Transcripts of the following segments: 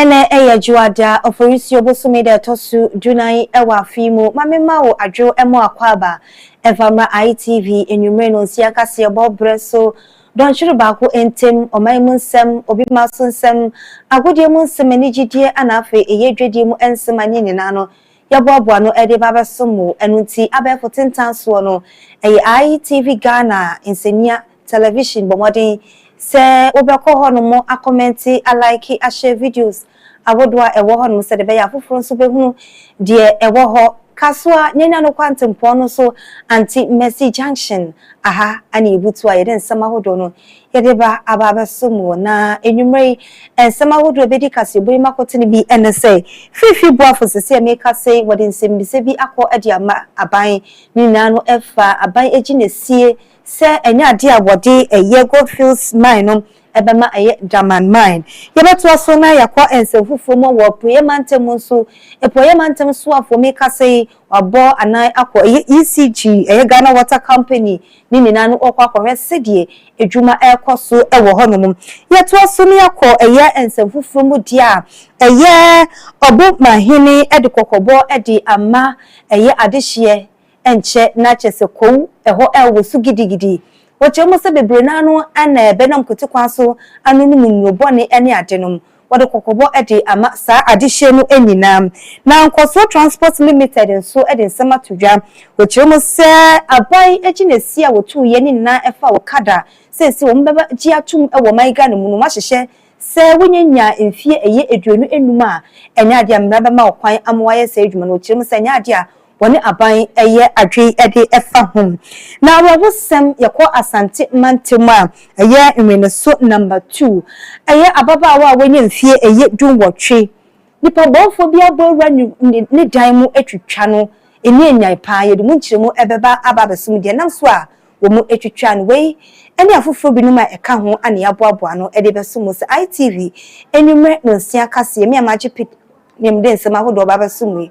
Ɛnɛ yɛ Dwoada, Oforisuo bosome da ɛtɔ so du nan wɔ afe yi mu. Ma me mma wo adwo mmɔ akwaaba mfa mmra ITV anwummere nonsia kaseɛbɔ berɛ so. Dɔnhwere baako ntam, ɔman mu nsɛm, obi mma so nsɛm, agodie mu nsɛm, anigyedie ɛna afei ɛyɛ dwadie mu nsɛm a ne nyinaa no yɛboaboa ano de ba abɛsom wo. Ɛno nti abɛɛfo tentan soɔ no, ɛyɛ ITV Ghana nsania. Television, bɔ mmɔden sɛ wobɛkɔ hɔnom akɔmɛnte, alaeke, ahyɛ videos ahodoɔ a ɛwɔ hɔnom sɛdeɛ ɛbɛyɛ a afoforɔ nso bɛhunu deɛ ɛwɔ hɔ. Ka so ara na ɛnya no kwantempɔn no so Anti Mercy Junction. Aha ne yɛbutu a yɛde nsɛm ahodoɔ no yɛde ba aba abɛso mu wɔ na anwummerɛ yi. Nsɛm ahodoɔ a ɛbɛdi kaseɛbɔ yi mu akote no bi ne sɛ, Fiifi Boafo, Sese a merekasa yi wɔde nsɛmmisa bi akɔ de ama aban. Ne nyinaa no ɛfa aban gyinasie sɛ ɛnyɛ adeɛ a wɔde yɛ Goldfields Mine no ɛbɛma ayɛ Daman Mine. Yɛbɛtoa so na yɛakɔ nsɛm foforɔ mu wɔ Apueɛ Mantam mu nso. Apueɛ Mantam Soafoɔ me kasa yi wabɔ anan akɔ ɛyɛ ECG, ɛyɛ Ghana Water Company ne nyinaa no wɔkɔ akɔhwɛ sɛdeɛ adwuma ɛrekɔ so wɔ hɔ nom. Yɛtoa so na yɛakɔ ɛyɛ nsɛm foforɔ mu deɛ a ɛyɛ Ɔbomahene de kɔkɔbɔ de ama ɛyɛ adehyeɛ. nkyɛ na kyerɛ sɛ kow hɔ wɔ so gidigidi. Wɔkyerɛ mu sɛ bebree no ara no na ɛbɛnam kwati kwan so anonom nnuro bɔne ne adenom. Wɔde kɔkɔbɔ de ama saa adehyeɛ no nyinaa. Na Nkɔsoɔ Transport Limited nso de nsɛm ato dwa. Wɔkyerɛ mu sɛ aban gyinasie a wɔtuiɛ no nyinaa ɛfa okada a seesei wɔbɛgye atom wɔ ɔman Ghana mu no wɔahyehyɛ sɛ wɔnya nya mfeɛ ɛyɛ aduonu nnum a ɛnyɛ adeɛ a mmara bɛma wɔkwan ama wɔayɛ saa adwuma no. Wɔkyerɛ mu sɛ ɛnyɛ adeɛ a wɔne aban yɛ adwene de fa ho. Na awerɛhosɛm, yɛkɔ Asante mantam a, ɛyɛ Nweneso Number Two. Ɛyɛ ababaawa a wanya mfeɛ ɛyɛ dunwɔtwe. Nipa bɔnfoɔ bi abɔ awura ne dan mu atwitwa no. Ɛnni anyan paa. Yɛde mu nkyerɛmu bɛba aba abɛsom deɛ ɛnam so a wɔatwitwa no. Wei ne afoforɔ binom a ɛka ho a na yɛaboaboa ano de bɛso mo sɛ ITV anwummerɛ nonsia kaseɛ. Me Amakye Pit ne mede nsɛm ahodoɔ ba abɛsom mo yi.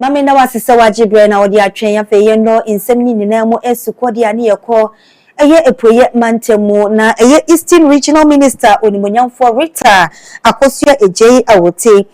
Ma me nna wo ase sɛ w'agye berɛ na ɔde atwɛn afei yɛn nɔ nsɛm no nyinaa mu ɛsu kɔ deɛ a ne yɛ kɔ ɛyɛ apueɛ mantam mu na ɛyɛ Eastern Regional Minister onimuonyamfoɔ Rita Akosua Adjei Awote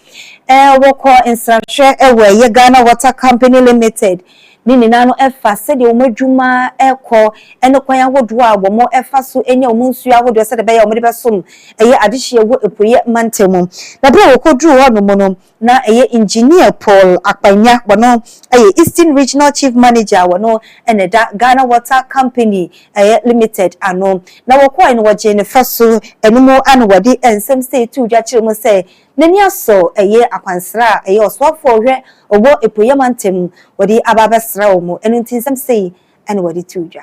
ɛɛ wɔ kɔ nsrahwɛ ɛwɔ ɛyɛ Ghana Water Company Limited ne nyinaa no ɛfa sɛdeɛ wɔn adwuma ɛkɔ ɛne kwan ahodoɔ a wɔn ɛfa so ɛnya wɔn nsuo ahodoɔ sɛdeɛ ɛbɛyɛ a wɔn de bɛsom ɛyɛ adehyeɛ wɔ apueɛ mantam mu na berɛ a wɔkɔ duruu hɔ nom no na ɛyɛ Engineer Paul Akpanya, ɔno yɛ Eastern Regional Chief Manager a ɔno na ɛda Ghana Water Company Limited ano, na wɔkɔɔe no wɔgyee ne fɛ so, ɛno mu ara na wɔde nsɛm sei too dwa kyerɛɛ mu sɛ n'ani asɔ ɛyɛ akwansra a ɛyɛ ɔsoafoɔ a ɔhwɛ ɔwɔ Apueɛ Mantam wɔde aba abɛsra wɔn, ɛno nti nsɛm sei na wɔde too dwa.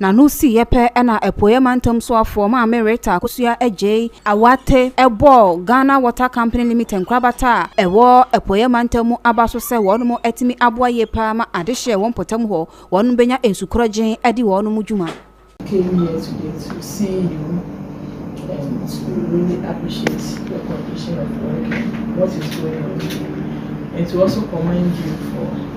Na no siiɛ pɛ na Apueɛ Mantam Soafoɔ Maame Rita Akosua Adjei Awate bɔɔ Ghana Water Company Limited nkorabata a ɛwɔ Apueɛ Mantam mu aba so sɛ wɔnom atumi aboa yie paa ma adehyeɛ wɔ mpɔtam hɔ wɔnom bɛnya nsukorɔgyen adi wɔnom dwuma. came here today to see you and to really appreciate your condition of work and what is going on with you and to also commend you for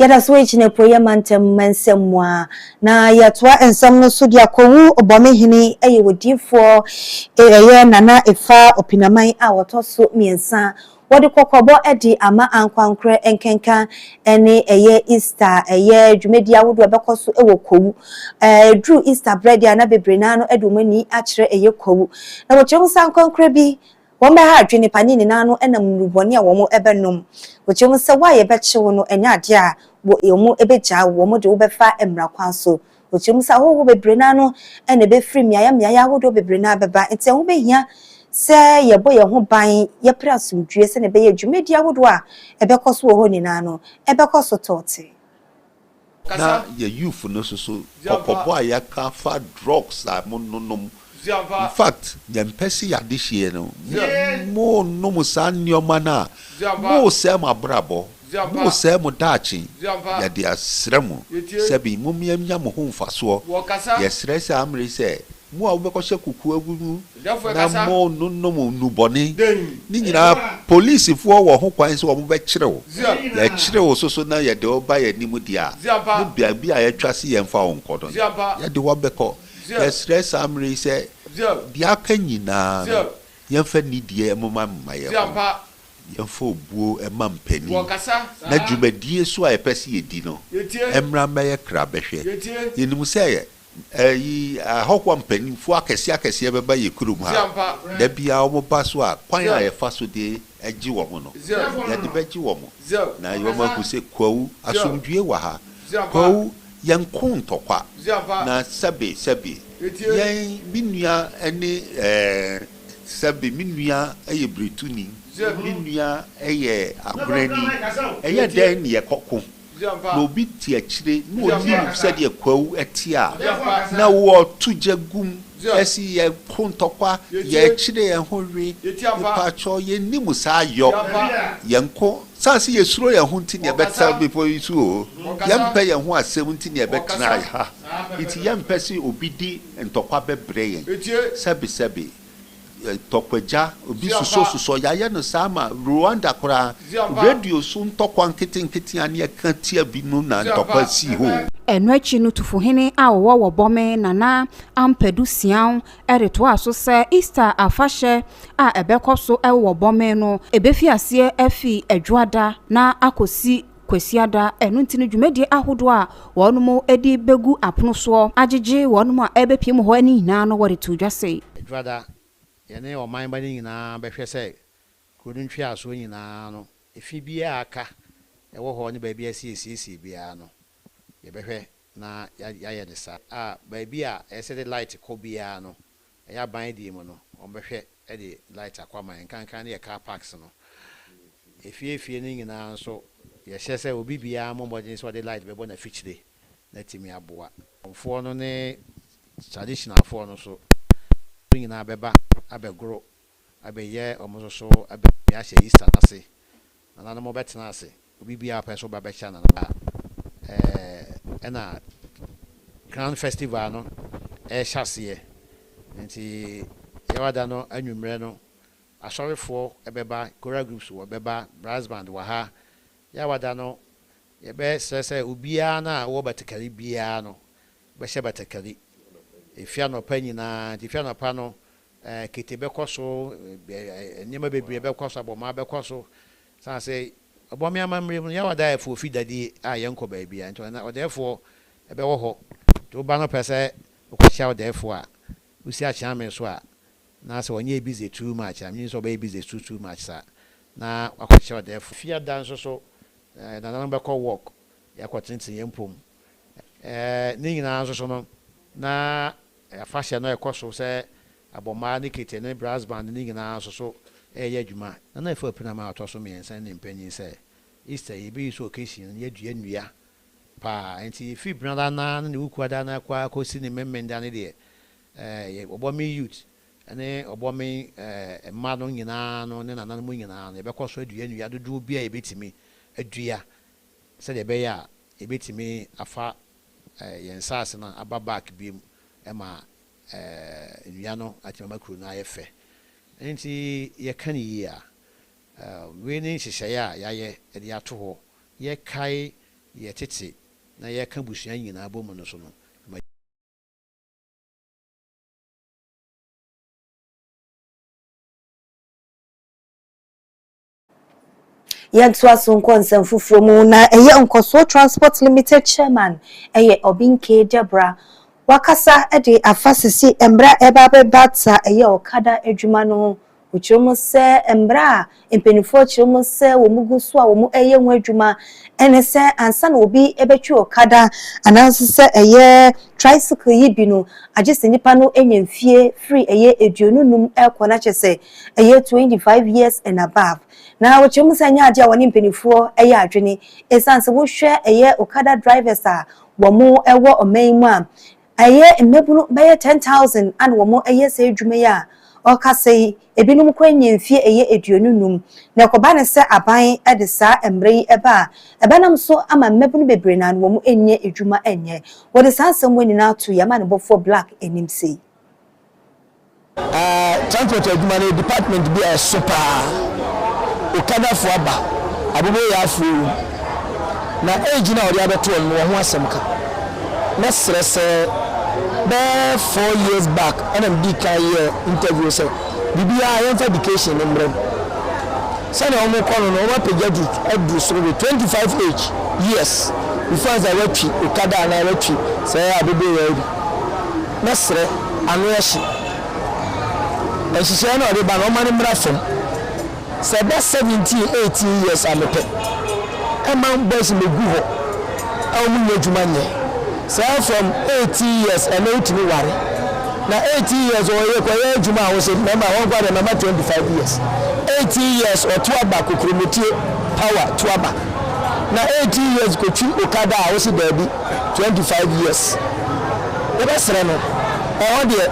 Yɛda so wɔ gyina Apueeɛ Mantam mansɛm mu a. Na yɛtoa nsɛm no so de akɔwu Obɔme hene ɛyɛ odiyifoɔ ɛyɛ Nana Efa Opinaman a wɔtɔ so mmiɛnsa. Wɔde kɔkɔbɔ de ama ankoankorɛ nkenka ɛne ɛyɛ Easter ɛyɛ dwumadie ahodoɔ a ɛbɛkɔ so ɛwɔ Kowu. Ɛduru Easter berɛ deɛ a na bebree no ara no ɛde wɔn ani akyerɛ ɛyɛ Kowu. Na wɔkyerɛ mu sɛ ankoankorɛ bi Wɔbɛha adwene nnipa no nyinaa no ɛnam nnuru bɔne a wɔn bɛnom. Wogye mu sɛ wo a yɛbɛkye wo no ɛnyɛ adeɛ a wɔn bɛgyaa wo, wɔn de wo bɛfa mmara kwan so. Wogye mu sɛ ahɔhoɔ bebree no ara no na ɛbɛfiri mmeaeɛ mmeaeɛ ahodoɔ bebree no ara bɛba, enti ɛho bɛhia sɛ yɛbɔ yɛn ho ban, yɛpere asomdwoeɛ sɛdeɛ ɛbɛyɛ a dwumadie ahodoɔ a ɛbɛkɔ so wɔ hɔ nyinaa no ɛbɛkɔ so tɔɔte. Na yɛ youth no soso kɔkɔbɔ a yɛaka afa drugs a mo no nom infact yɛmpɛ se yɛ adehyeɛ no mo nom saa nnoɔma no a mo sɛe mo abrabɔ mo sɛe mo daakye yɛde asrɛ mo sɛbi mo mia nya mo ho nfasoɔ yɛsrɛ saa mmere sɛ mo a wobɛkɔ hyɛ kokoa gu mu na mononom nnubɔne no nyinaa polisifoɔ wɔ ho kwan sɛ wɔbɛkyere wo, yɛkyere wo soso na yɛde wo ba yɛn anim deɛ a, ne baabi a yɛatwa se yɛmfa wo nkɔ no, yɛde wo bɛkɔ. Yɛsrɛ saa mmerɛ yi sɛ deɛ aka nyinaa no, yɛmfa nidie mmoma mma yɛn ho, yɛmfa obuo mma mpanin, na dwumadie nso a yɛpɛ sɛ yɛdi no, mmra mmɛyɛ krabɛhwɛ. Yɛnim sɛ Eyi ahɔhoɔ mpaninfoɔ akɛseɛ akɛseɛ bɛba yɛ kurom ha da biara wɔn ba so a kwan a yɛ fa so de gye wɔn no yɛ de bɛ gye wɔn na yɛ wɔn ahu sɛ kwawu asomdwie wɔ ha kwawu yɛ nko ntɔkwa na sɛbe sɛbe yɛn me nua ne ɛɛ sɛbe me nua yɛ brituni me nua yɛ agonani ɛyɛ dɛn ne yɛ kɔ ko. na obi te akyire na ɔnim sɛdeɛ kwawu te a, na wɔto gya gu mu si yɛn ho ntɔkwa, yɛkyere yɛn ho we, mepakyɛw yɛnnim saa yɔ, yɛnko, sane sɛ yɛsuro yɛn ho nti na yɛbɛtra bepɔ yi so oo, yɛmpɛ yɛn ho asɛm nti na yɛbɛtra ha, nti yɛmpɛ sɛ obi di ntɔkwa bɛbrɛ yɛn, sɛbesɛbe. Ntɔkwagya, obi susɔsusɔ, yɛayɛ no saa ma Rwanda koraa, radio so ntɔkwa nketenkete a ne yɛka tia bi no na ntɔkwa sii hɔ o. Ɛno akyi no Tufohene a ɔwɔ Wɔbɔme, Nana Ampadu Siaw de toaa so sɛ Easter afahyɛ a ɛbɛkɔ so wɔ Wɔbɔme no, ɛbɛfi aseɛ afi Adwoada na akɔsi Kwasiada, ɛno nti no dwumadie ahodoɔ a wɔnom de bɛgu apono soɔ agyegye wɔnom a ɛrebɛpue mu hɔ no nyinaa no wɔde too dwa sei. Dwada, yɛne ɔman ba no nyinaa bɛhwɛ sɛ kuro no ntweasoɔ nyinaa no efi biara a aka ɛwɔ hɔ ne baabi a ɛsɛ yɛsiesie biara no yɛbɛhwɛ na yɛayɛ no saa a baabi a ɛsɛ de light kɔ biara no Ɛyɛ aban deɛ mu no wɔn bɛhwɛ de light akɔ ama yɛn nkankan no yɛ car parks no efie efie no nyinaa nso yɛhyɛ sɛ obi biara mmɔ mmɔden sɛ ɔde light bɛbɔ n'afikyire na atumi aboa foɔ no ne traditional foɔ no so nyinaa bɛba abɛgoro abɛyɛ wɔn nso so abɛtumi ahyɛ Easter no ase. Nananom bɛtena ase. Obi biara pɛ so ba bɛkyɛ nana a, ɛɛ, ɛna Grand Festival no ɛrehyɛ aseɛ. Nti Yawada no anwummerɛ no, asɔrefoɔ bɛba, choral groups wɔ bɛba, brass band wɔ ha. Yawada no, yɛbɛsrɛ sɛ obiara no a ɔwɔ batakari biara no bɛhyɛ batakari. Ɛfiri anɔpa nyinaa, nti ɛfiri anɔpa no, Kete bɛkɔ so, nneɛma bebree bɛkɔ so, abɔmaa bɛkɔ so. Esiane sɛ ɔbɔme amammerɛ mu no, Yaw adaeɛfoɔ fi dade a yɛnkɔ baabiara nti, ɔdaeɛfoɔ bɛwɔ hɔ. Nti woba na wopɛ sɛ wokɔkyea ɔdaeɛfoɔ a, wosi akyea me so a, na sɛ ɔnyɛɛ busy too much a, menim sɛ ɔbɛyɛ busy too too much saa, na wakɔkyea ɔdaeɛfoɔ. Fiada nso so, nananom bɛkɔ walk, yɛakɔtenetene yɛn mpom. Ne nyinaa nso so no, na Afahyɛ no a ɛkɔ so sɛ abɔmmaa ne kete ne brass band no nyinaa nso so reyɛ adwuma, na na ɛfa ɔpinam a ɔtɔ so mmiɛnsa no ne mpanyin sɛ Easter yi, yɛbɛyi so occasion no, yɛadua nnua paa. Enti ɛfiri Benada no ara ne ne Wukuada no ara koraa kɔsi ne Memeneda no deɛ, ɛɛ, Ɔbɔmen Youth ne Ɔbɔmen, ɛɛ, mma no nyinaa no ne nananom nyinaa no, yɛbɛkɔ so adua nnua dodoɔ biara a yɛbɛtumi adua sɛdeɛ ɛbɛyɛ a yɛbɛtumi afa eh, yɛn nsaase no aba back biom ɛma eh, nnua no atumi ama kuro no ayɛ fɛ. Nti yɛka ne yie a, eh, wei ne nhyehyɛeɛ a yɛayɛ de ato hɔ, yɛkae yɛ tete na yɛka busua nyinaa bɔ mu no so no. Ɛma. Yɛntoa so nkɔ nsɛm foforɔ mu na ɛyɛ Nkɔsoɔ Transport Limited Chairman ɛyɛ Obinke Deborah. Wakasa de afa sisi mmara a ɛreba abɛbata ɛyɛ ɔkada adwuma no ho. Ɔkyerɛ mu sɛ mmara a mpaninfoɔ kyerɛ mu sɛ wɔn gu so a wɔn ɛreyɛ ho adwuma ɛne sɛ ansa na obi ɛbɛtwi ɔkada anaa nso sɛ ɛyɛ tricycle yi bi no agye sɛ nipa no anya mfie firi ɛyɛ aduonu num ɛrekɔ na kyɛ sɛ ɛyɛ twenty five years and above, na wɔkyerɛ mu sɛ ɛnyɛ adeɛ a wɔne mpanimfoɔ yɛ adwene ɛsiane sɛ wohwɛ ɛyɛ Okada drivers a wɔwɔ ɔman yi mu a, ɛyɛ mmabunu bɛyɛ ten thousand a na wɔyɛ saa adwuma yi a ɔkasa yi, ebinom koraa nyɛ mfeɛ ɛyɛ aduonu nnum. Na ɛkɔba no sɛ aban de saa mmara yi ba a, ɛbɛnam so ama mmabunu bebree na wɔn nnya adwuma nyɛ. Wɔde saa asɛm wei nyinaa ato Yɛn Amanebɔfoɔ Blaq anim sei. Transport adwuma no yɛ department bi a ɛso paa. Okadafo aba, aboboyafo awu, na age no a wɔde abɛto wɔn no wɔn ho asɛm ka. Mɛsrɛ sɛ bɛyɛ four years back ɛna medii kan yɛɛ interview sɛ biribiara yɛmfa education no mmrɛ mu. Sɛnea wɔn rekɔ no no wɔn apagya du aduru soro de twenty five age years before ansa wɔatwi okada anaa wɔatwi saa aboboyaa yi bi. na srɛ ano ɛhye nhyehyɛɛ no a ɔde ba no ɔma no mmra fam sɛ ɛba seventeen eighteen years a mepɛ ɛma boys no bɛgu hɔ a wɔn nyɛ adwuma nyɛ saa from eighteen years ɛnɛ wotumi ware na eighteen years ɔyɛ kɔyɛ adwuma a wɔsɛ mɛma wɔn kɔ adeɛ mɛma twenty five years eighteen years ɔto aba kokurometie power to aba na eighteen years kɔtwi okada a wɔsɛ daabi twenty five years yɛbɛsrɛ no ɛhɔ deɛ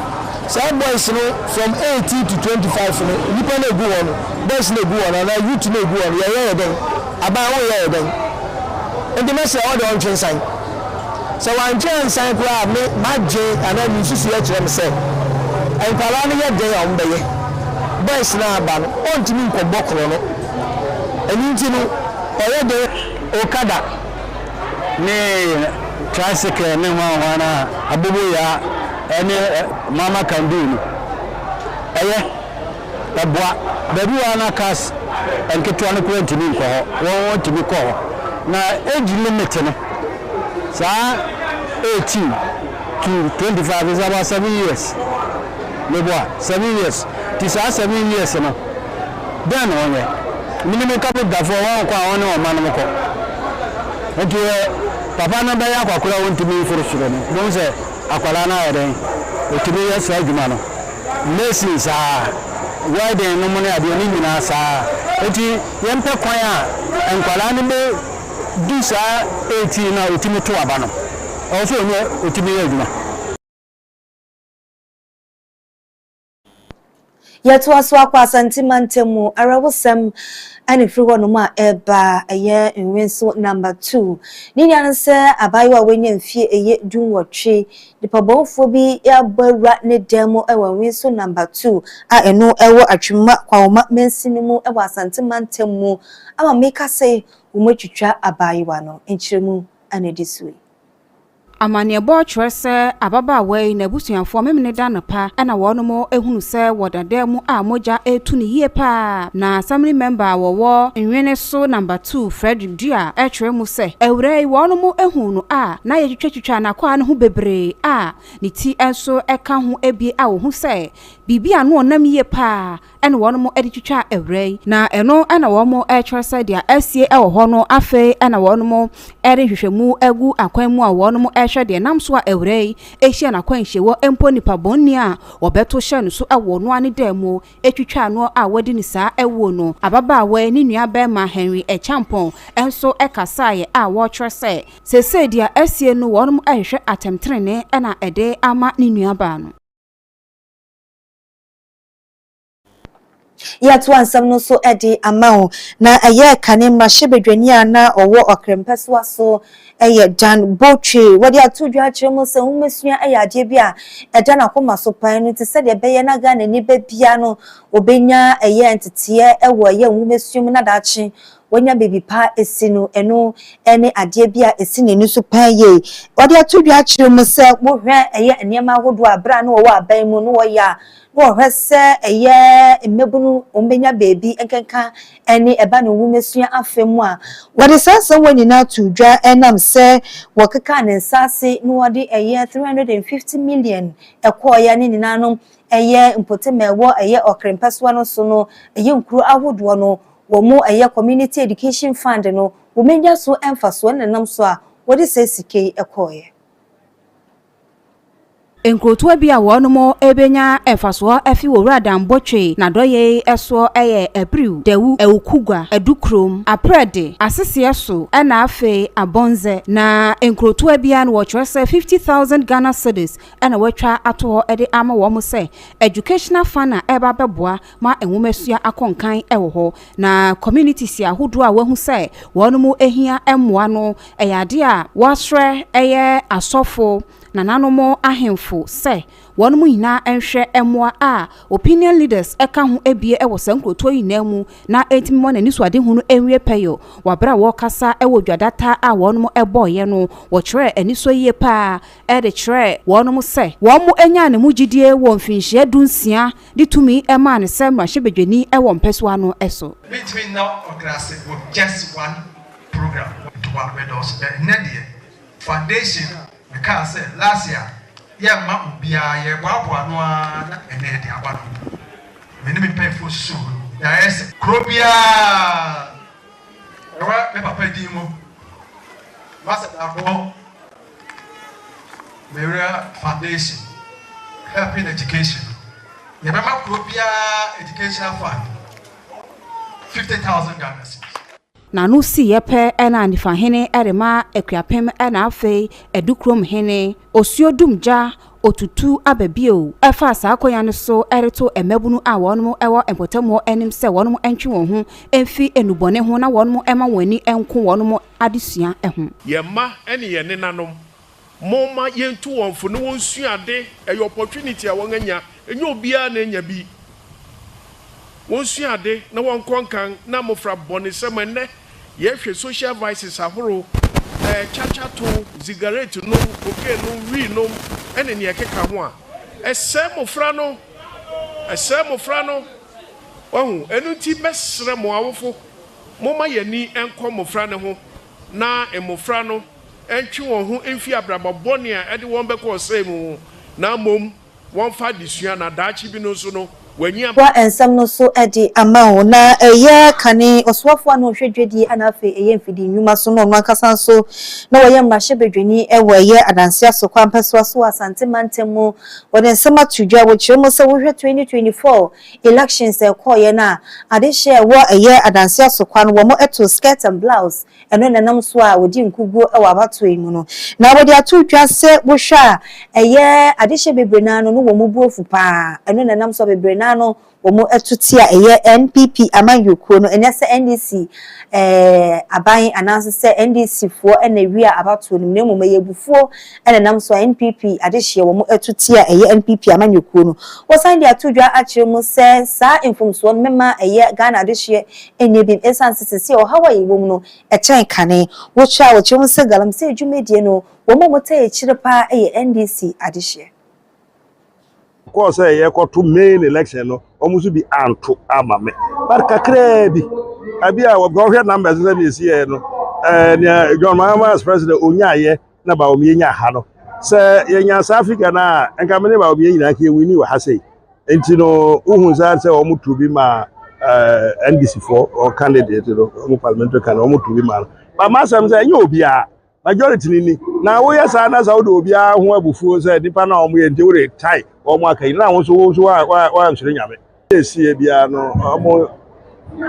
saa boys no from eighteen to twenty five no nipa no egu hɔ no boys no egu hɔ no anaa youth no egu hɔ no yɛyɛ yɛ dɛn aban wo yɛ yɛ dɛn nti mɛsrɛ ɛhɔ deɛ ɔntwe nsan sɛ wantwe ansan koraa me madwen anaa me nsusu yɛ kyerɛ me sɛ nkwadaa no yɛ dɛn a wɔn bɛyɛ boys no aba no ɔntumi nkɔbɔ korɔ no ɛni nti no ɔyɛ dɛn okada. ne tricycle ne hwan hwan a aboboyaa ɛne mama can do no ɛyɛ ɛboa baabi wɔ ana cars nketewa no kora ntumi nkɔ hɔ wɔn wɔn tumi kɔ hɔ na age limit no saa 18 to 25 is about 7 years meboa 7 years ti saa 7 years no Dɛn na wɔnyɛ? Minim nkabodwafo a wɔnkɔ a wɔne wɔn mmanom kɔ. Enti deɛ papa no bɛyɛ akwakoraa a ɔntumi mforo soro no, bohu sɛ akwadaa no ayɛ dɛn? Ɔtumi yɛ saa adwuma no. Mason saa ara, welding nom ne adeɛ, ne nyinaa saa ara. Enti yɛmpɛ kwan a nkwadaa no bɛdu saa eighteen no a ɔtumi to aba no, ɛwɔ sɛ ɔno ɔtumi yɛ adwuma. Yɛtoa so akɔ Asante mantam mu, awerɛhosɛm na ɛfiri hɔnom a ɛreba, ɛyɛ Nwenso Number Two. Ne nea ne sɛ abaayewa a wanya mfeɛ ɛyɛ dunwɔtwe, nipabɔnfoɔ bi abɔ awura ne dan mu wɔ Nwenso Number Two a ɛno wɔ Atwimma Kwawoma mansini mu wɔ Asante mantam mu ama meka sɛ wɔatwitwa abaayewa no. Nkyerɛmu na ɛdi so yi. Amanneɛbɔ kyerɛ sɛ ababaawa yi n'abusuafoɔ Memeneda anɔpa na wɔnom hunu sɛ wɔ dada mu a mogya retu no yie paa. Na Assembly Member a wɔwɔ Nwene so Number Two Fredrick Duah kyerɛ mu sɛ awuraa yi wɔnom huu no a na yɛtwitwatwitwa n'akwaa no ho bebree a ne ti nso ka ho bie a wɔhu sɛ biribi a ano ɔnam yie paa na wɔnom de twitwaa awura yi, na ɛno na wɔnom rekyerɛ sɛ deɛ asie wɔ hɔ no, afei na wɔnom de nhwehwɛmu agu akwan mu a wɔnom rehwɛ deɛ nam so a awura yi hyia no akwanhyie wɔ, mpo nnipa bɔnni a wɔbɛto hyɛɛ no so wɔ ɔno ara ne dan mu twitwaa noɔ a wadi no saa awuo no. Ababaawa yi ne nua barima Henry Acheampong nso kasaeɛ a wɔkyerɛ sɛ seesei deɛ asie no wɔnom rehwehwɛ atɛmtenenee na ɛde ama ne nua baa no. Yɛatoa nsɛm no so de ama wo. Na ɛyɛɛ kane mmarahyɛbadwani a na ɔwɔ ɔkra mpɛsoa so yɛ Dan Botwe. Wɔde ato dwa akyerɛ mu sɛ nwomasua yɛ adeɛ bi a ɛda n'akoma so paa, ɛno nti sɛdeɛ ɛbɛyɛ na Ghanani ba biara no ɔbɛnya ɛyɛ nteteɛ wɔ ɛyɛ nwomasua mu na daakye wanya baabi pa asi no, ɛno ne adeɛ bi a ɛsi n'ani so paa yie. Wɔde ato dwa akyerɛ mu sɛ wohwɛ ɛyɛ nneɛma ahodoɔ a berɛ a na wɔwɔ aban mu no wɔyɛ a, Wɔhwɛ sɛ ɛyɛ mmabun wɔn bɛnya baabi nkenka ne ɛba ne nwomasua afa mu a. Wɔde saa nsɛmmoa nyinaa too dwa ɛnam sɛ wɔkekaa ne nsaase na wɔde ɛyɛ three hundred and fifty million ɛkɔɔeɛ a ne nyinaa no ɛyɛ mpɔtam a ɛwɔ ɛyɛ Ɔkre mpɛsoa no so no ɛyɛ nkuro ahodoɔ no wɔn ɛyɛ community education fund no wɔn anya so mfasoɔ ne nenam so a wɔde saa sika yi ɛkɔɔeɛ. Nkurotoa bi a wɔnom benya mfasoɔ afi wɔ Wura Dan Botwe n'adɔyɛe soɔ yɛ Abiriw, Dawu, Awukugwa, Adukurom, Aprɛde, Aseseɛ so na afei Abɔnzɛ. Na nkurotoa biara no wɔkyerɛ sɛ fifty thousand Ghana cedis na wɔatwa ato hɔ de ama wɔn sɛ Educational Fund a ɛreba abɛboa ma nwomasua akonkan wɔ hɔ, na communities ahodoɔ a wahu sɛ wɔn mo hia mmoa no, ɛyɛ adeɛ a wasrɛ ɛyɛ asɔfo, nananom ahemfo sɛ wɔn mo nyinaa nhwɛ mmoa a opinion leaders ka ho abie wɔ saa nkurotoɔ yi nyinaa mu na ɛntumi mma wɔn anisoadehunu nwie pɛyɔ. Wɔ berɛ a wɔrekasa wɔ dwadata a wɔn mo bɔeɛ no, wɔkyerɛɛ anisɔ yie paa de kyerɛɛ wɔn mo sɛ wɔn mo nyaa ne mo gyidie wɔ mfinhyia du nsia de tumi maa no sɛ mmarahyɛbadwani wɔ mpɛsoa no so. Metumi nya ɔdrase wɔ just one program. Ntoma no bɛdɔɔso dɛ nnɛ deɛ foundation mekaa sɛ last year yɛmma obiara yɛboaboa ano ara na ɛnnɛ yɛde aba no mpo me ne me mpanyinfoɔ susuu ho no yɛayɛ sɛ kuro biara ɛwɔ me papa din mu Master Darboe. Berea Foundation, Help in Education, Yɛbɛma kuro biara Educational Fund fifty thousand Ghana cedis. N'ano siiɛ pɛ na Anifahene rema Akuapem na afei Adukurom hene Osuo Dumgya Otutu aba bio fa saa akonya no so reto mmabunu a wɔnom wɔ mpɔtamuo anim sɛ wɔnom ntwe wɔn ho mfi nnubɔne ho na wɔnom mma wɔn ani nko wɔnom adesua ho. Yɛn mma ne yɛn nenanom, momma yɛntu wɔn fo na wɔnsua ade. Ɛyɛ opportunity a wɔanya, ɛnyɛ obiara na anya bi. Wɔnsua ade na wɔnkɔ nkan na mmofra bɔnesɛm. Ɛnnɛ, yɛhwɛ social vices ahorow, ɛɛ, kyakyatow, zigaretnom, cocaine nom, wii nom, ne nea ɛkeka ho a, ɛsɛe mmofra no. Ɛsɛe mmofra no. Wahu? Ɛno nti, mɛsrɛ mo awofo. Momma yɛn ani nkɔ mmofra no ho na mmofra no ntwe wɔn ho mfi abrabɔ bɔne a ɛde wɔn bɛkɔ ɔsɛe mu ho na mmom wɔmfa adesua na daakye bi no nso no, wɔanyi aba. Toa nsɛm no so de ama wo. Ná ɛyɛ kane ɔsoafo a na ɔhwɛ dwadie a na afei ɛyɛ mfidie nnwuma so na ɔno ankasa nso na ɔyɛ mmarahyɛbadwani wɔ ɛyɛ adanseɛ asokwampɛsoa so wɔ Asante mantam mu. Wɔde nsɛm ato dwa wɔ kyerɛw mu sɛ, Wohwɛ 2024 Elections a ɛkɔɔeɛ no a ade hyɛɛ a wɔ ɛyɛ adanseɛ so kwa no wɔn too skirt and blouse ɛno na ɛnam so a wɔdi nkuguo wɔ abatoɔ yi mu no na wɔde ato dwa sɛ wo hwɛ a ɛyɛ ade hyɛ bebree no ara no no wɔn bu afu pa ara ɛno na ɛnam so a bebree no ara no wɔn to tia ɛyɛ NPP amanyɔkuo no ɛnyɛ sɛ NDC ɛɛ aban anaase sɛ NDC foɔ na ɛwia abatoɔ no mu na mmom ɛyɛ abufuo ɛnenam so a NPP adehyeɛ wɔn atuteɛ a ɛyɛ NPP amanyɔkuo no, wɔsan de ato dwa akyerɛ mu sɛ saa mfomsoɔ no mɛma ɛyɛ Ghana adehyeɛ nyɛ biem ɛsiane sɛ sesie ɔhaw a yɛwɔ mu no ɛkyɛn kane. Wɔtwa wɔkyerɛ mu sɛ galamsey dwumadie no wɔn a wɔtaa akyire pa ara yɛ NDC adehyeɛ. Kɔɔ sɛ yɛkɔto main election no wɔn nso bi anto ama me but kakraa bi abi a wɔhwɛ numbers sɛ deɛ ɛsiiɛ no eh, nea John Mahama as president ɔnyaayɛ na Bawumia nya ha no sɛ yɛnya saa figure no a nka me ne Bawumia nyinaa nka yɛwini wɔ ha sei nti no wohu saa sɛ wɔn tu bi ma eh, NDC foɔ wɔn candidate no wɔn parliamentary candidate wɔn tu bi ma no ba ma asɛm sɛ ɛnyɛ obiara majority ni ni na woyɛ saa na sɛ wode obiara ho abufuo sɛ nipa no a wɔn yɛ nti wode tae wɔn aka yi na wɔn nso wɔn nso wɔansoro nyame Seesei biara no,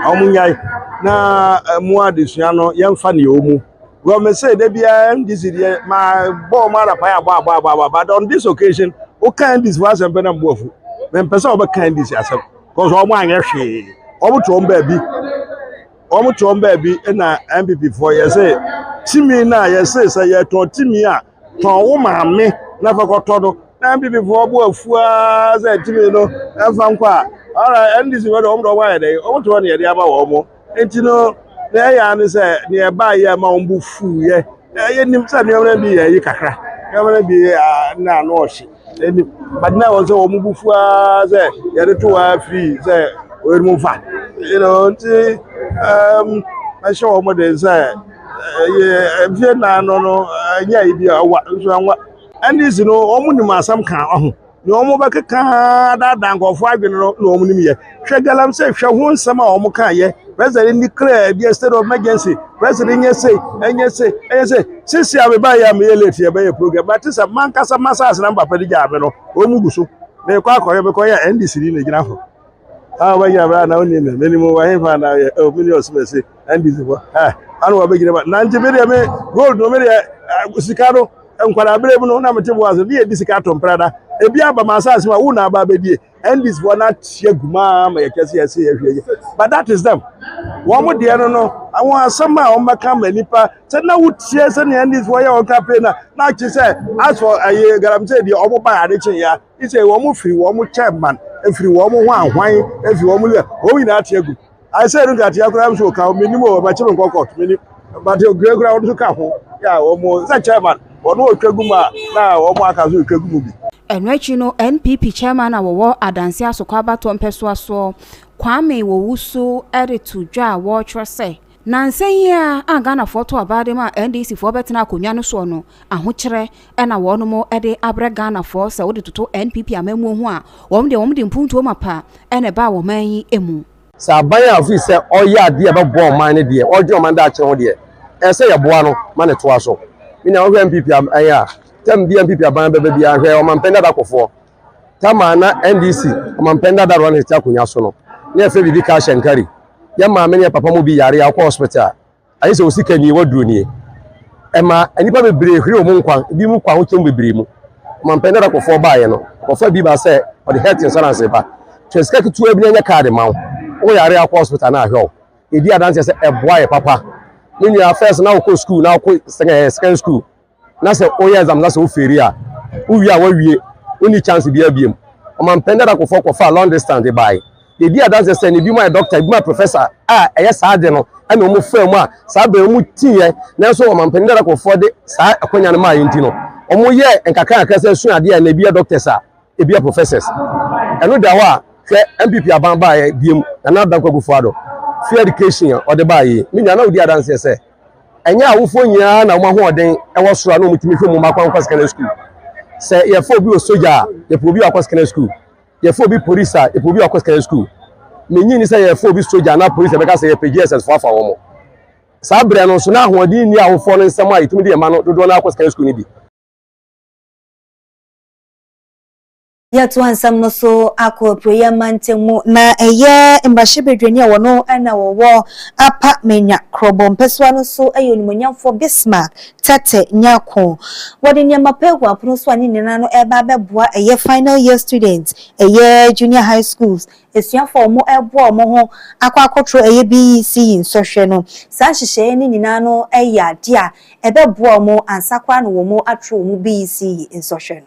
wɔnyae na mo adesua no yɛmfa ne yɛwɔ mu. Well, me say da biara MDC deɛ ma bɔ wɔn ara pa yɛ abɔ abɔ abɔ abɔ but on this occasion woka MDC fo asɛm pɛ na mbu afu. Mempɛ sɛ wɔbɛka MDC asɛm because wɔn anyɛ hwee. Wɔn te wɔn baabi wɔn te wɔn baabi na MPP foɔ yɛse timi no a yɛse sɛ yɛtɔn timi a Tɔn wo maame na fa kɔtɔ no. Na NPP foɔ bo afu ara sɛ tumi no ɛmfa nkɔ a. Alright, NDC foɔ deɛ wɔn deɛ wɔn ayɛ dɛn? Wɔn te hɔ na yɛde ama wɔn. Nti no, na ɛyɛ ara ne sɛ nea ɛbaa yɛ ma wɔn bo fuiɛ. Yɛnim sɛ nneɛma no bi yɛ ayi kakra, nneɛma no bi na ano ɔhye. Ɛni but na wɔn sɛ wɔn bu fu ara sɛ yɛde to wɔn afiri sɛ wɔn mu fa. You know nti ɛɛm ɛhyɛ wɔn den sɛ ɛyɛ mfie nan no no ɛnyɛ ebi a ɛwa nso ɛnwa. NDC no wɔn nim asɛm ka ɔho nea wɔn bɛkeka adaadaa nkurɔfoɔ adwene no na wɔn nim yɛ. Hwɛ galamsey hwɛ ho nsɛm a wɔn ka yɛ president ni clear bi state of emergency president nyɛ se ɛnyɛ se ɛnyɛ se sisi a meba yɛ a meyɛ late yɛ bɛyɛ program but sɛ mankasa masase na papa de gyaa me no wɔn gu so mekɔ akɔyɛ mekɔ yɛ ndc ni na gyina ho a wɔbɛgyina bra na wɔn nim mene mu wɔ he fa na yɛ ɛ omi ni ɔsomɛsi ndc fo ɛ ano wɔbɛgyina ba nante bi deɛ me gold no me deɛ eh, sika no nkwadaa bere mu no na mete boase ne yɛ di sika to mprada ebi aba ma asase mu a wo na aba abɛdie NDC foɔ no ateɛ gu maa ma yɛkyɛ sɛ yɛsɛ yɛhwɛ yi but that is them wɔn mo deɛ no no wɔn asɛm a wɔn bɛka ma nipa sɛ na wotie sɛ ne NDC foɔ yɛ wɔn campaign na na akyi sɛ asɔ ɛyɛ galamsey deɛ wɔn ba ade kye ya isɛ wɔn firi wɔn chairman efiri wɔn ho ahwan efiri wɔn yɛ wɔn nyinaa ateɛ gu. I said no nkatea koraa nso ka ho menim o bɛkye me nkɔ court menim but okura kura wɔn nso ka ho yɛ a wɔn sɛ chairman wɔn ɔtwa gu mu a na wɔn aka nso ɔtwa gu mu bi. Ɛno akyi no NPP chairman a wɔwɔ Adansi Asoko abatoɔ mpɛsoa soɔ Kwame Owusu de to dwa a wɔtwerɛ sɛ, Nansa yi ara a Ghanafoɔ to aba de maa NDC foɔ bɛtenaa akonnwa no soɔ no, ahokyerɛ Ɛna wɔnom de abrɛ Ghanafoɔ sɛ wode toto NPP amammuo ho a, wɔn deɛ wɔn de mpuntuo mapa na ɛbaa wɔ man yi mu. Sɛ aban a ɔfiri sɛ ɔreyɛ adeɛ a ɛbɛboa ɔman no deɛ, ɔredwene ɔman daakye ho deɛ, ɛsɛ sɛ yɛboa no ma no toa so. Me nua, wohwɛ NPP aban a, term biara NPP aban bɛba biara, hwɛ ɔmampanin dada kɔfoɔ, term a na NDC ɔmampanin dada Ronald te akonnwa so no, na yɛfrɛ biribi cash and carry. Yɛn maame ne yɛn papa mu bi yare a, wokɔ hospital a, Aye sɛ osika nie, waduro nie. Ɛma nnipa bebree hwere wɔn nkwa, ebi mu kɔ ahokyɛm bebree mu. Ɔmampɛn dada kɔfoɔ baayɛ no, ɔkɔfa bi ba sɛ ɔde health insurance ba. Twa sika ketewa bi na nyɛ card ma wo. Wo yare akɔ hospital na ahwɛ wo. Yɛdi adanseɛ sɛ ɛboa yɛ papa. Me nua, first na wokɔ school na wokɔ secondary school na sɛ woyɛ exam na sɛ wo feri a wowie a wawie wonni chance bi abiem ɔma mpɛn dada kɔfɔ kɔfa long distance de bae yɛdi adanse sɛ ne bi mu ayɛ doctor ebi mu ayɛ professor a ɛyɛ saa de no ɛna wɔn faa mu a saa bɛn wɔn tiiɛ nanso ɔma mpɛn dada kɔfɔ de saa akonya no maa yɛn ti no wɔn yɛ nkakra nkakra sɛ sua adeɛ a na ebi yɛ doctors a ebi yɛ professors ɛno da hɔ a hwɛ npp aban baeɛ biem nana dankwa gufo ado free education a ɔde baeɛ me nua na wodi adanse sɛ ɛnyɛ awofoɔ nyinaa na wɔn ahoɔden ɛwɔ soro a na wɔn tumi hwɛ mu mma kwan kɔ secondary school sɛ yɛfɛ obi wɔ soja a yɛpɛ obi wakɔ secondary school yɛfɛ obi polisi a yɛpɛ obi wakɔ secondary school menyi ni sɛ yɛfɛ obi soja na polisi ɛbɛka sɛ yɛpɛ gss fo afa wɔn saa berɛ no nso na ahoɔden nni awofoɔ no nsɛm a yɛtumi de yɛn ma no dodoɔ no akɔ secondary school no bi Yɛtoa nsɛm no so akɔ apueeɛ mantam mu. Na ɛyɛ mmarahyɛbadwani a wɔno na wɔwɔ Apa Manya korɔbɔ mpɛsoa no so yɛ onimonyamfoɔ Bismark Tete Nyarko. Wɔde nneɛma pa agu apono so a ne nyinaa no ɛreba abɛboa ɛyɛ final year students, ɛyɛ junior high schools asuafoɔ a wɔreboa wɔn ho akɔ akɔtoro ɛyɛ BECE nsɔhwɛ no. Saa nhyehyɛeɛ no nyinaa no yɛ adeɛ a ɛbɛboa wɔn ansa koraa na wɔatoro wɔn BECE nsɔhwɛ no.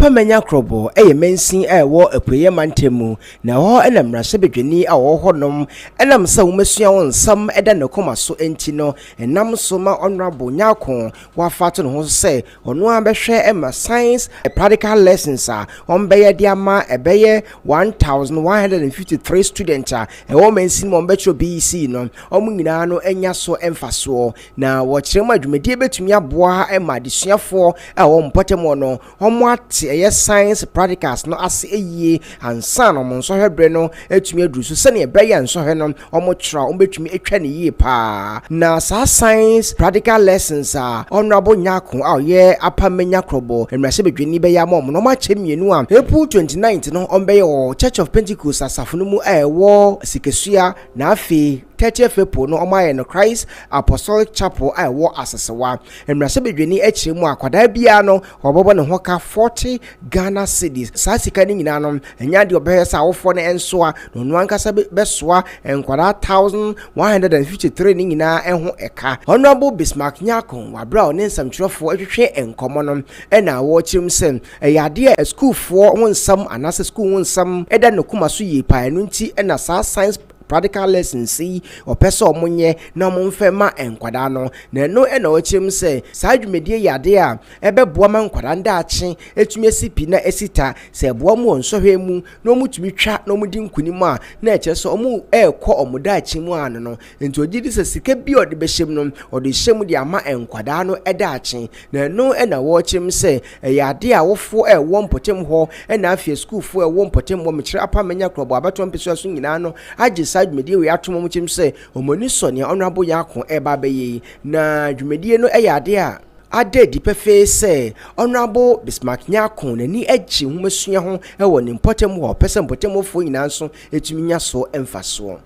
Pamanya Krobo yɛ mansin a ɛwɔ Apueeɛ Mantam mu, na ɛhɔ na mmarahyɛbadwani a ɔwɔ hɔnom nam sɛ wɔasua wɔn nsɛm da ne koma so nti no nam so ma Honourable Nyarko wɔafa ato ne ho so sɛ ɔno ara bɛhwɛ ma Science practical lessons a wɔbɛyɛ de ama ɛbɛyɛ 1153 students a ɛwɔ mansin mu a wɔbɛkyerɛw BECE no, wɔn nyinaa no anya so mfasoɔ. Na wɔkyerɛ mu a dwumadie bɛtumi aboa ma adesuafoɔ a wɔn mpɔtam no wɔn ate ɛyɛ science practicals no ase yie ansa na wɔn nsɔhwɛ berɛ no atumi aduru so sɛdeɛ ɛbɛyɛ a nsɔhwɛ no wɔn twerɛ a wɔbɛtumi atwa ne yie paa na saa science practical lessons a Honourable Nyarko a ɔyɛ Upper Menya Krobo mmarahyɛbadwani bɛyɛ ama wɔn no wɔn akyɛ mmienu a April 29th no wɔn bɛyɛ wɔ Church of Pentecost asafo no mu a ɛwɔ Sikasua Na afei, Tɛtɛ Fapoo no wɔayɛ no Christ Apostolic Chapel a ɛwɔ Asesewa, mmarahyɛbadwani akyire mu a akwadaa biara no wɔbɛbɔ ne ho ka forty Ghana cedis. Saa sika no nyinaa no, ɛnyɛ adeɛ a ɔbɛhwɛ sɛ awofoɔ no nsoa, na ɔno ankasa bɛsoa nkwadaa thousand one hundred and fifty three no nyinaa ho ka. Honourable Bismarck Nyarko wɔ aberɛ a ɔne nsɛmtwerɛfoɔ retwetwe nkɔmmɔ no na ɔkyerɛm sɛ Ɛyɛ ade a sukuufoɔ ho nsɛm anaasɛ sukuu ho nsɛm da ne koma so yie paa. Ɛno nti na saa science practical lessons yi ɔpɛ sɛ ɔmo nyɛ na ɔmo mfɛ ma nkwadaa no. Na ɛno na ɔkyerɛ mu sɛ saa dwumadie yɛ ade a ɛbɛboa ma nkwadaa no daakye atumi asi pi na asi ta. Sɛ ɛboa ɔmo wɔ nsɔhwɛ mu na ɔmo tumi twa na ɔmo di nkunim a, na ɛkyerɛ sɛ ɔmo ɛɛkɔ ɔmo daakye mu ano no. Enti ogye di sɛ sika bi a ɔde bɛhyɛ mu no, ɔde rehyɛ mu de ama nkwadaa no daakye, na ɛno na wɔrekyerem sɛ ɛyɛ ade a awofoɔ ɛrewɔ mpɔtam hɔ na afei asukuufoɔ ɛrewɔ mpɔtam hɔ, Mekyerɛ Apa Manya Korɔbɔ Abatoɔ Mpesua so nyinaa no agye saa dwumadie wei atom, wɔkyerem sɛ wɔn ani sɔ nea Honourable Nyarko ɛreba abɛyɛ yi, na dwumadie no ɛyɛ ade a ada adi pɛfee sɛ Honourable Bismarck Nyarko n'ani gye nwomasua ho wɔ ne mpɔtam hɔ a ɔpɛ sɛ mpɔtam hɔfoɔ nyinaa nso tumi nya so mfasoɔ.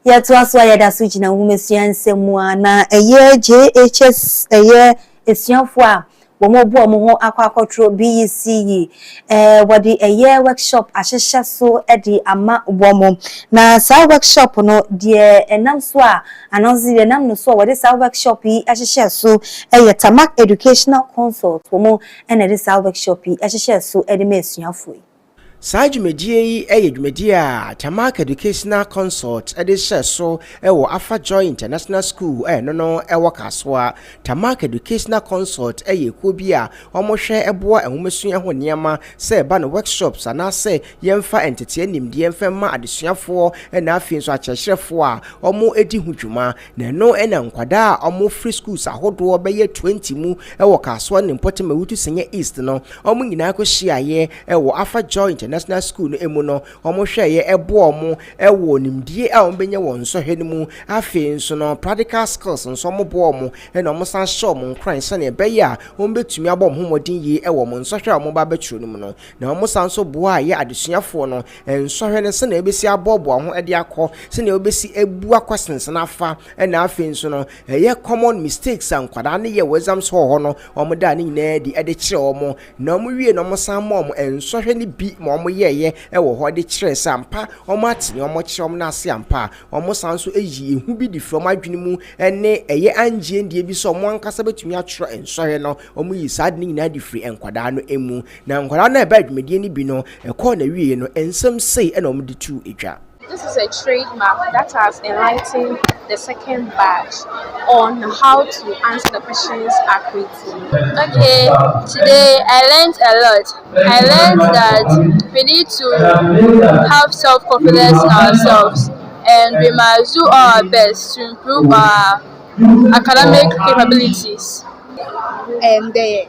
Yɛtoa so a yɛda so gyina nwomasua nsɛm mu a na ɛyɛ JHS ɛyɛ asuafoɔ a wɔn bu wɔn ho akɔ akɔtoro BEC yi eh, wɔde ɛyɛ workshop ahyehyɛ so de ama wɔn na saa workshop no deɛ ɛnam so a anansi deɛ ɛnam no so a wɔde saa workshop yi ahyehyɛ so ɛyɛ Tamak Educational Consult wɔn ɛna ɛde saa workshop yi ahyehyɛ so ɛde ma asuafoɔ yi. Saa dwumadie yi yɛ dwumadie a Jamac Educational Consult de hyɛɛ so wɔ Afa Joy International School a ɛno no wɔ Kasoa. Jamac Educational Consult yɛ ekuo bi a wɔhwɛ boa nwomasua ho nneɛma sɛ ɛba no workshops anaasɛ yɛmfa nteteɛ nimdeɛ mfa mma adesuafoɔ na afei nso akyerɛkyerɛfoɔ a wɔdi ho dwuma. Na ɛno na nkwadaa a wɔfiri schools ahodoɔ bɛyɛ 20 mu wɔ Kasoa ne Mpɔtam Awutu Senya East no, wɔn nyinaa kɔhyiaeɛ wɔ Afa Joy International School no mu no, wɔhwɛeɛ boa wɔn wɔ nimdie a wɔbɛnya wɔ nsɔhwɛ no mu. Afei nso no, practical skills nso wɔboa wɔn na wɔsan hyɛ wɔn nkuran sɛdeɛ ɛbɛyɛ a wɔbɛtumi abɔ wɔn ho mmɔden yie wɔ wɔn nsɔhwɛ a wɔba abɛtwerɛ no mu no. Na wɔsan nso boaeɛ adesuafoɔ no Nsɔhwɛ no sɛnea wobesi aboaboa ho de akɔ, sɛnea wobesi abu akɔsensɛn afa, ɛna afei nso no ɛyɛ common mistakes a nkwadaa no yɛ wɔ exams hall hɔ no, wɔn daa ne nyinaa adi de kyerɛ wɔn, na wɔn wie no wɔn san ma wɔn nsɔhwɛ no bi ma wɔn yɛɛyɛ ɛwɔ hɔ de kyerɛɛ sɛ ampa wɔn ate nea wɔn kyerɛ wɔn no ase ampa a, wɔn san nso yi ehu bi de firi wɔn adwene mu ɛne ɛyɛ angyeɛndie bi sɛ wɔn ankasa betumi atwerɛ nsɔhwɛ no, wɔn yi saa ade no nyinaa de firi nkwadaa no mu. Na nkwadaa no a ɛbaa dwumadie no bi no, ɛkɔɔ n'awieeɛ no, nsɛm sei na wɔde too dwa. This is a trade mark that has enlightened the second batch on how to answer the questions accurately. Okay, today I learned a lot. I learned that we need to have self-confidence in ourselves and we must do all our best to improve our academic capabilities. And the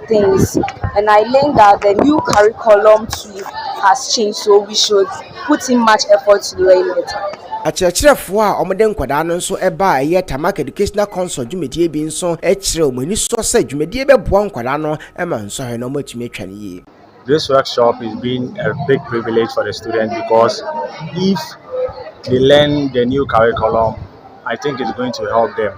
things and I learned that the new curriculum too has changed so we should put in much effort to learn better. Akyerɛkyerɛfoɔ a wɔde nkwadaa no nso ba a ɛyɛ Tarmac Educational Council dwumadie bi nso kyerɛ wɔn anisɔ sɛ dwumadie bɛboa nkwadaa no ma nsɔhwɛ no wɔatumi atwa no yie. This workshop is being a big privilege for the students because if they learn the new curriculum, I think it's going to help them.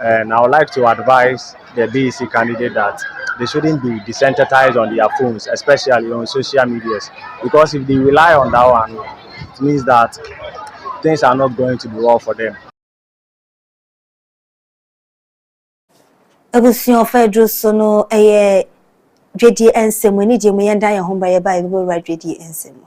and I would like to advise the BEC candidate that they shouldn't be desensitized on their phones, especially on social medias, because if they rely on that one, it means that things are not going to be well for them. abusua ɔfa aduru so no ɛyɛ dwadie nsɛm mu anigye mu yɛn da yɛn ho ba yɛ ba yɛ bɛbɛwura dwadie nsɛm mu.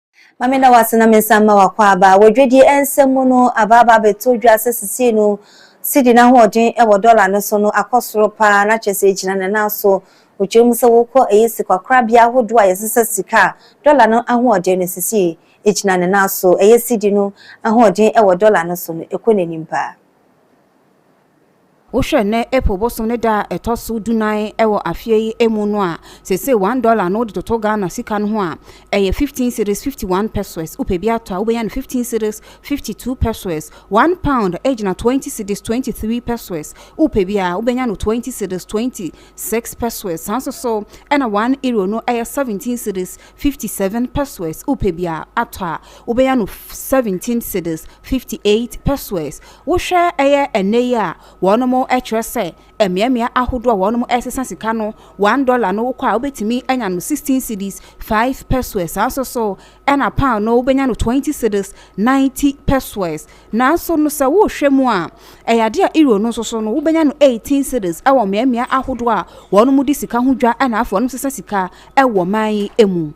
Ma me da wo ase na me nsa mma w'akwaaba. Wɔ dwadie nsɛm mu no, aba aba abɛtɔ dwa sɛ sesei no Cedi no ahoɔden wɔ dɔla no so no akɔ soro pa ara na kyerɛ sɛ ɛgyina ne nan so. Wokyerɛ mu sɛ wokɔ ɛyɛ sikakorabea ahodoɔ a yɛsesa sika a, dɔla no ahoɔden no sesei ɛgyina ne nan so. Ɛyɛ Cedi no ahoɔden wɔ dɔla no so no ɛkɔ n'anim pa ara. Wohwɛ nnɛ April bosom ne da a ɛtɔ so dunan wɔ afeɛ yi mu no a, seesei one dollar no wode toto Ghana sika no ho a, ɛyɛ fifteen cedis, fifty one pesoes. Wopɛ bi atɔ a, wobɛnya no fifteen cedis, fifty two pesoes. One pound gyina twenty cedis, twenty three pesoes. Wopɛ bi a, wobɛnya no twenty cedis, twenty six pesoes. Saa nso so na one euro no yɛ seventeen cedis, fifty seven pesoes. Wopɛ bi a atɔ a, wobɛnya no seventeen cedis, fifty eight pesoes. Wohwɛ ɛyɛ ɛnnɛ yi a, wɔnom ɛkyerɛ sɛ ɛmeamea ahodoɔ a wɔnom ɛsesa sika no, one dollar no wokɔ a wobɛtumi anya no sixteen cedis, five pesoes, saa nso so ɛna pound no wobɛnya no twenty cedis, ninety pesoes, nanso no sɛ wohwɛ mu a ɛyɛ adeɛ a euro no nso so no wobɛnya no eighteen cedis ɛwɔ mmeamea ahodoɔ a wɔnom di sika ho dwa ɛna afei wɔnom sesa sika ɛwɔ man yi ɛmu.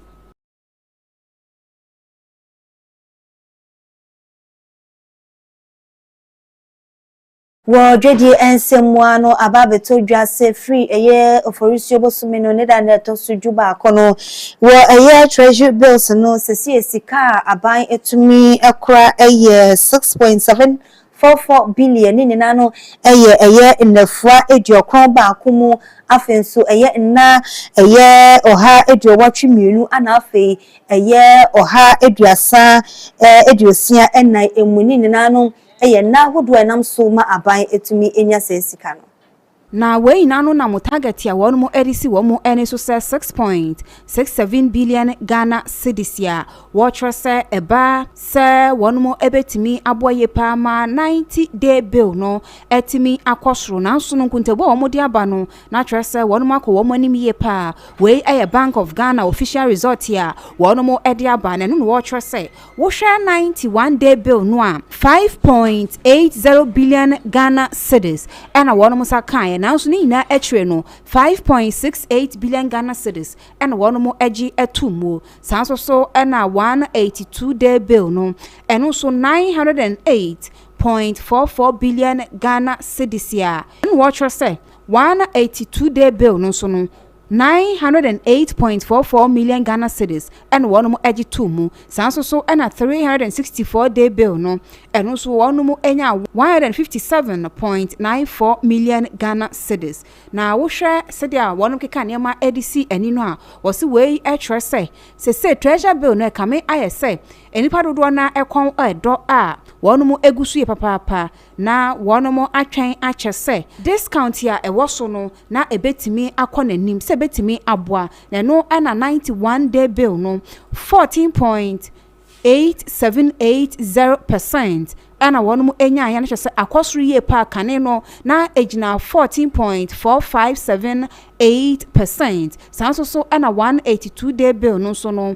Wɔ Dwadie nsɛmmoa no aba abɛtɔ dwa sɛ firi ɛyɛ Oforisuo bosome no ne da no a ɛtɔ so du baako no, wɔ ɛyɛ Treasury Bills no sesie sika a aban tumi kora yɛ six point seven four four billion, ne nyinaa no yɛ ɛyɛ nnafua aduokron baako mu, afei nso ɛyɛ nna ɛyɛ ɔha aduowɔtwe mmienu, ɛna afei Ɛyɛ ɔha aduasa aduosia nnan mu ne nyinaa no yɛ nna ahodoɔ a ɛnam so ma aban tumi nya saa sika no. Na wei nyinaa no nam target a wɔn de si wɔn ani so sɛ six point six seven billion Ghana cedis a wɔkyerɛ sɛ ɛba sɛ wɔn bɛtumi aboa yie pa ara ma ninety day bill no atumi akɔ soro. Nanso no nkontabuo a wɔde aba no Na kyerɛ sɛ wɔnom akɔ wɔn anim yie paa. Wei yɛ Bank of Ghana official result a wɔnom de aba na ɛno na wɔkyerɛ sɛ wohwɛ ninety one day bill no a, five point eight zero billion Ghana cedis na wɔnom nsa kaeɛ nanso ne nyinaa akyire no five point six eight billion Ghana cedis na wɔnom agye ato mu. Saa nso so na one eighty two day bill no, ɛno nso nine hundred and eight point four four billion Ghana cedis a ɛno na wɔkyerɛ sɛ Wɔn na eighty two day bill no nso no, nine hundred and eight point four four million Ghana cedis na wɔnom gye too mu. Saa nso so na three hundred and sixty four day bill no, ɛno nso wɔnom nyaa one hundred and fifty seven point nine four million Ghana cedis. Na wo hwɛ sɛdeɛ a wɔnom keka nneɛma de si ani no a, wɔ se wei kyerɛ sɛ sesei treasure bill no ɛkame ayɛ sɛ nnipa dodoɔ no ara kɔn ɛdɔ a wɔnom gu so yie papaapa. Na wɔnom atwɛn akyɛ sɛ discount a ɛwɔ so no na ɛbɛtumi akɔ n'anim, sɛ ɛbɛtumi aboa, na ɛno na ninety one day bill no fourteen point eight seven eight zero percent ɛna wɔnom nyaeɛ, no kyerɛ sɛ akɔ soro yie paa, kane no na ɛgyina fourteen point four five seven eight percent, saa nso so ɛna one eighty two day bill no nso no.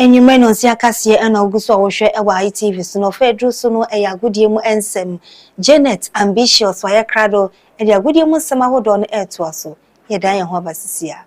Anwummere nnɔnsia kaseɛ na wogu so a wohwɛ wɔ ITV so na ɔfa a ɛduru so no yɛ agodie mu nsɛm. Janet Ambitious wayɛ krado de agodie mu nsɛm ahodoɔ no retoa so. Yɛdan yɛn ho aba sisi a.